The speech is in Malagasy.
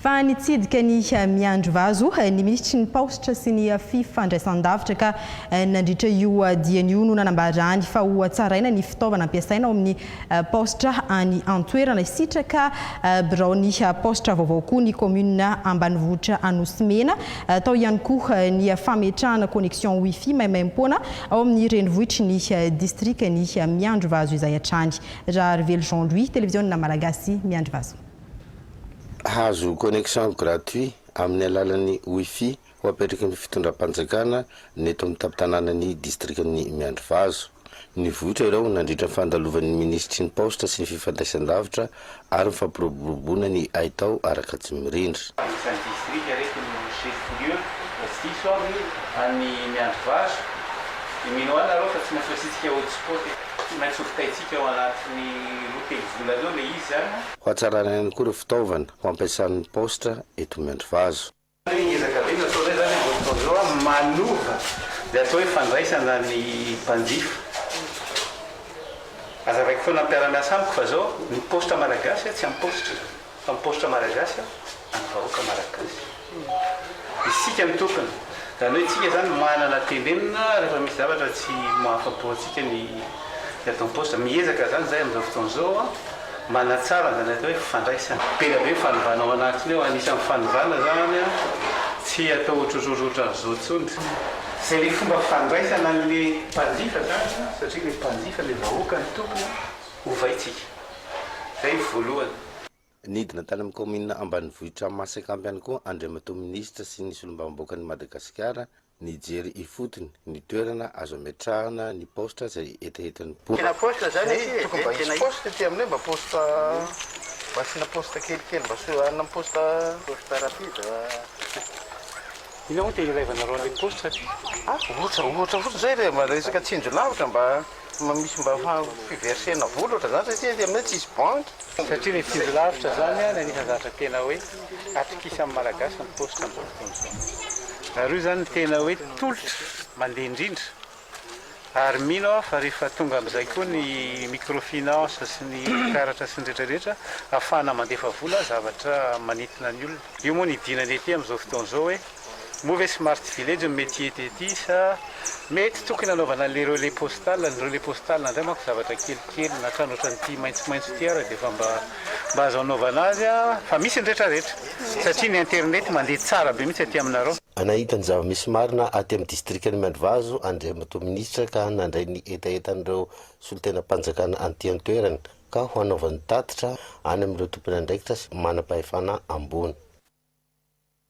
Fa nitsidika ny miandry vazo ny minisitry ny Paositra sy ny fifandraisan-davitra ka nandritra io diany io no nanambarany fa hohatsaraina ny fitaovana ampiasaina ao amin'ny Paositra any an-toerana. Sitraka biraon'ny paositra vaovao koa ny kaominina ambanivohitra Anosimena. Tao ihany koa ny fametrahana connexion wifi maimaimpoana ao amin'ny renivohitry ny distrikan'i Miandrivazo izay hatrany. Raharivelo Jean Louis, Televiziona Malagasy, Miandrivazo. Hahazo connexion gratuit amin'ny alalan'ny wifi ho apetraky ny fitondram-panjakana ny eto amin'ny tampon-tanànan'ny distrikan'i Miandrivazo. Nivoitra ireo nandritra ny fandalovan'ny minisitry ny Paositra sy ny fifandraisan-davitra ary ny fampiroboroboana ny haitao ara-katsimirindra. Anisan'ny distrika ireto no chef-lieu raha tsy diso aho ny an'i Miandrivazo. Dia mino ahy nareo fa tsy maintsy hoasintsika hotspot e! Tsy maintsy hovitaintsika ao anatin'ny roa telo volana eo ilay izy izany an! Ho hatsarana ihany koa ireo fitaovana ho ampiasan'ny Paositra eto Miandrivazo. Hoe ezaka be no ataonay izany amin'izao fotoana izao an, manova izay atao hoe fandraisana ny mpanjifa. Azavaiko foana amin'ny mpiara-miasa amiko fa izao ny paositra malagasy tsy amin'ny paositra izany fa ny paositra malagasy an'ny vahoaka malagasy. Isika no tompony. Izany hoe isika izany manana tenenina rehefa misy zavatra tsy mahafapo antsika ny ataon'ny paositra. Miezaka izany izahay amin'izao fotoana izao an. Manatsara izany atao hoe fifandraisana. Be dia be ny fanovana ao anatiny ao, anisan'ny fanovana izany an, tsy atao ohatrohatry ohatran'izao intsony tsy izay ilay fomba fifandraisana an'ilay mpanjifa izany an, satria ilay mpanjifa, ilay vahoaka no tompony an, ovaintsika. Izay ny voalohany. Nidina tany amin'ny kaominina ambanivohitr'Amasak'Ampy ihany koa Andriamatoa Minisitra sy ny Solombavambahoakan'i Madagasikara Nijery ifotony ny toerana azo ametrahana ny paositra izay hetahetan'ny mponina. Tena paositra zany aty e, tokony mba hisy paositra aty aminay mba paositra mba asiana paositra kelikely mba asio hanina am paositra paositra rapide a inona moa te hilaivanareo anle paositra aty a ohatra ohatra fotsiny zay le mba resaka tsinjo lavitra mba. Mba misy mba fiversena vola ohatran'izany satria aty aminay tsisy banky. Satria ilay tsindry lavitra izany ilay anisan'ny zavatra tena hoe atokisan'ny Malagasy ny paositra amin'izao fotoana izao. Ary io izany no tena hoe tolotra mandeha indrindra. Ary mino aho fa rehefa tonga amin'izay koa ny microfinance sy ny karatra sy ny rehetra rehetra ahafahana mandefa vola zavatra manintona ny olona. Io moa no hidiana ny aty amin'izao fotoana izao hoe. Moa ve smart village no mety hety ety sa? Mety tokony hanaovana an'ilay relais postal, ny relais postal indray manko zavatra kelikely na trano ohatran'ity maitsomaitso ity ary dia efa mba mba azo anaovana azy a, fa misy ny rehetrarehetra satria ny internet mandeha tsara be mihitsy aty aminareo. Nahita ny zava-misy marina aty amin'ny distrikan'i Miandrivazo Andriamatoa Minisitra ka nandray ny hetahetan'ireo solontenam-panjakana aty an-toerana ka ho hanaovany tatitra any amin'ireo tompon'andraikitra sy manam-pahefana ambony.